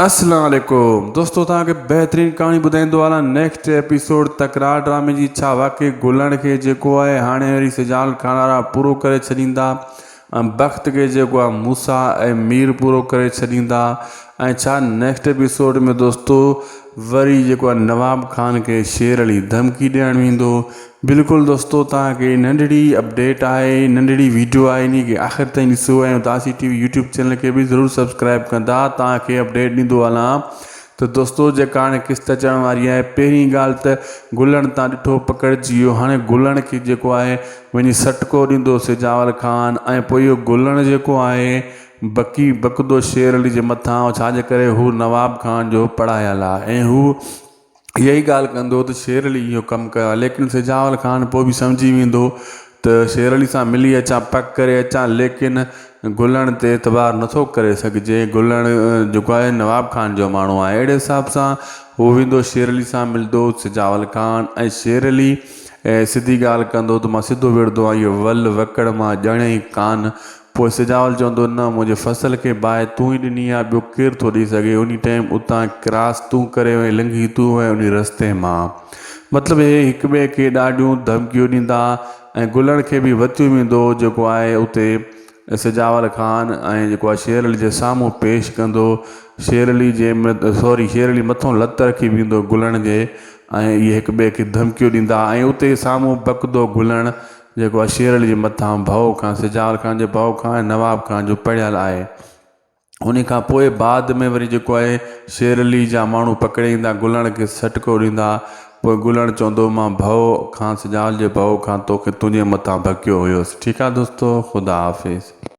اسلام عليڪم دوستو توهان کي بهترين ڪهاڻي ٻڌائيندو هلان نيڪسٽ ايپيسوڊ تڪرار ڊرامي جي ڇا واقعي گلڻ کي جيڪو آهي هاڻي وري سجال کانئارا پورو ڪري ڇڏيندا ۽ بخت کي جيڪو آهي موسا ۽ مير پورو ڪري ڇڏيندا ۽ ڇا نيڪسٽ ايپيسوڊ ۾ دوستو وري جيڪو آهي نواب خان کي شير علي ڌمڪي ڏيڻ ويندو بلڪل دوستو توهان کي ننڍڙي اپڊيٽ آهي ننڍڙي ويڊيو آهي اني کي آخر تائين ڏسو ۽ اداسي ٽي وي يوٽيوب چينل کي به ضرور سبسڪرائب ڪندا توهان کي اپڊيٽ ڏيندو هلان ته دوستو جيڪا هاڻي قسط اچڻ واري آهي پهرين ڳالهه ته گلڻ تان ڏٺو پڪڙجي ويو هاڻي گلڻ کي جيڪو آهي وڃي سٽڪو ڏيندو سجاول خان ۽ پوء اهو گلڻ جيڪو آهي بڪي بڪدو شير علي جي مٿان ڇاجي ڪري هو نواب خان جو پڙهايل آهي ۽ هو اها ئي ڳالهه ڪندو ته شير علي اهو ڪم ڪيو آهي ليڪن سجاول خان پوء به سمجهي ويندو ته شير علي سان ملي اچان پڪ ڪري اچان ليڪن گلڻ تي اعتبار نٿو ڪري سگهجي گلڻ جيڪو آهي نواب خان جو ماڻهو آهي اهڙي حساب سان هو ويندو شير علي سان ملندو سجاول خان ۽ شير علي سڌي ڳالهه ڪندو ته مان سڌو وڙهندو آهيان اهو ول وڪڙ مان ڄڻي ڪانه پوء سجاول چوندو، نه، منهنجي فصل کي باهه تون ئي ڏني آهي، ٻيو ڪير ٿو ڏئي سگهي، انهي ٽيم اتان ڪراس تون ڪريو ۽ لنگهي تون وئين انهي رستي مان. مطلب اهي هڪٻئي کي ڏاڍيون ڌمڪيون ڏيندا ۽ گلڻ کي به وتيون ويندو جيڪو آهي اتي سجاول خان ۽ جيڪو آهي شير علي جي سامهون پيش ڪندو. شير علي جي سوري شير علي مٿون لت رکي بيهندو گلڻ جي ۽ اهي هڪٻئي کي ڌمڪيون ڏيندا ۽ اتي سامهون بڪدو گلڻ جيڪو اشير علي جي مٿان ڀؤ خان، سجاول خان جي ڀؤ خان ۽ نواب خان جو پڙهيل آهي. انهي کان پوء بعد ۾ وري جيڪو آهي شير علي جا ماڻهو پڪڙي ايندا گلڻ کي سهٽڪو ڏيندا پوء گلڻ چوندو مان ڀؤ خان سجاول جي ڀؤ خان توکي تنهنجي مٿان ڀڪيو هيس ٺيڪ آهي دوستو خدا حافظ.